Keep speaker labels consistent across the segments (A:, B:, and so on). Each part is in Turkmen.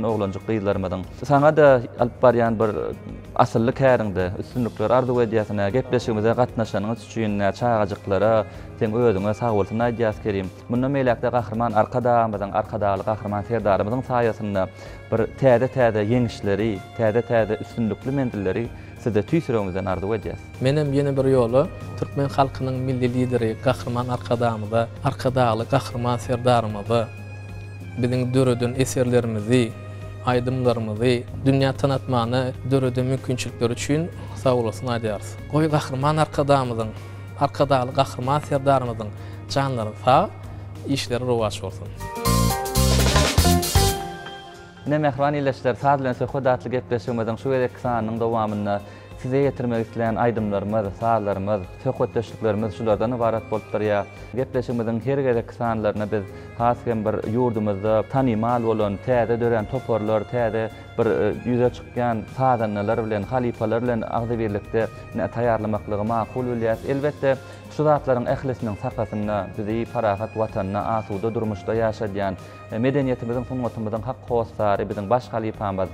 A: Oglanjyk gyzlarymyzyň saňa-da alyp barýan bir asylly käriňde üstünlikler arzuw edýäs. Ine, gepleşigimize gatnaşanyňyz üçin ine, çagajyklara seň özüňe sagbolsun aýdýas, Kerim. Mundan beýläk-de Gahryman Arkadagymyzyň, Arkadagly Gahryman Serdarymyzyň saýasynda bir täze-täze ýeňişleri, täze-täze üstünlikli menzilleri Size tüýs ýüregimizden arzuw edýäs. Menem ýene bir ýola
B: Türkmen halkynyň Milli Lideri Gahryman Arkadagymyza, Arkadagly Gahryman Serdarymyza biziň döreden eserlerimizi, aýdymlarymyzy dünýä tanatmana döreden mümkinçilikleri üçin sagbolasyn aýdýarys. Goý, Gahryman Arkadagymyzyň, Arkadagly Gahryman Serdarymyzyň janlary sag, işleri rowaç bolsun!
A: Ine, mähriban ildeşler, saz bilen söhbet atly gepleşigimiziň şu gezekki sanynyň dowamynda size ýetirmek isleýän aýdymlarymyz, sazlarymyz, söhbetdeşliklerimiz şulardan ybarat bolup durýar. Gepleşigimiziň her gezekki sanlaryna biz has hem bir ýurdumyzda tanymal bolan, täze dörän toparlar, täze bir ýüze çykýan sazandalar bilen, halypalar bilen agzybirlikde taýýarlamaklygy makul bilýäris. Elbetde, şu zatlaryň ählisiniň sakasynda bizi parahat Watanda, asuda durmuşda ýaşadýan, Medeniýetimiziň, sungatymyzyň hak hossary, biziň baş halypamyz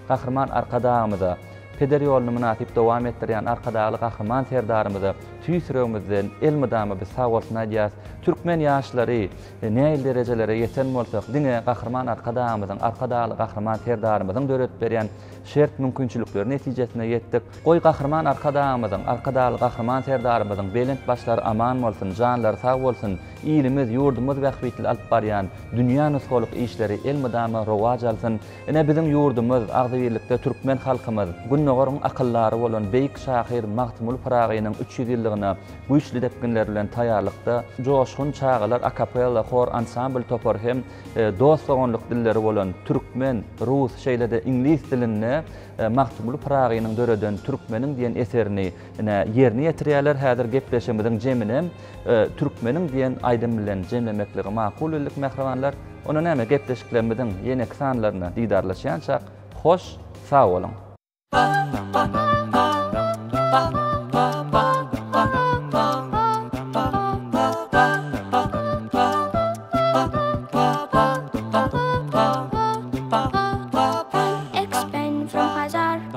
A: Gahryman Arkadagymyza, peder ýoluny mynasyp dowam etdirýän Arkadagly Gahryman Serdarymyza tüýs ýüregimizden elmydama biz sag bolsun aýdýarys. Türkmen ýaşlary nähili derejelere ýeten bolsa, diňe Gahryman Arkadagymyzyň, Arkadagly Gahryman Serdarymyzyň döredip berýän şert-mümkinçilikleri netijesinde ýetdik. Goý, Gahryman Arkadagymyzyň, Arkadagly Gahryman Serdarymyzyň belent başlary aman bolsun, janlary sag bolsun! Ilimiz, ýurdumyz bähbitli alyp barýan dünýä nusgalyk işleri elmydama rowaç alsyn! Ine, biziň ýurdumyz, agzybirlikde türkmen halkymyz Gündogaryň akyldary bolan beýik şahyr Magtymguly Pyragynyň üç ýüz ýyllygyna güýçli depginler bilen taýýarlykda. Joşgun çagalar akapella hor-ansambl topary hem dost-doganlyk dilleri bolan türkmen, rus, şeýle-de iňlis dilinde Magtymguly Pyragynyň döreden Türkmeniň diýen eserini Ine, ýerine ýetirýärler, häzir gepleşigimiziň jeminem Türkmeniň diýen aýdym bilen jemlemekligi makul bildik, mähribanlar. Onda näme, gepleşiklerimiziň ýeneki sanlarynda didarlaşýançak, hoş, sag boluň!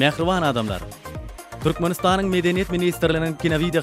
C: Mähriban adamlar! Türkmenistanyň Medeniýet ministrliginiň kinowideo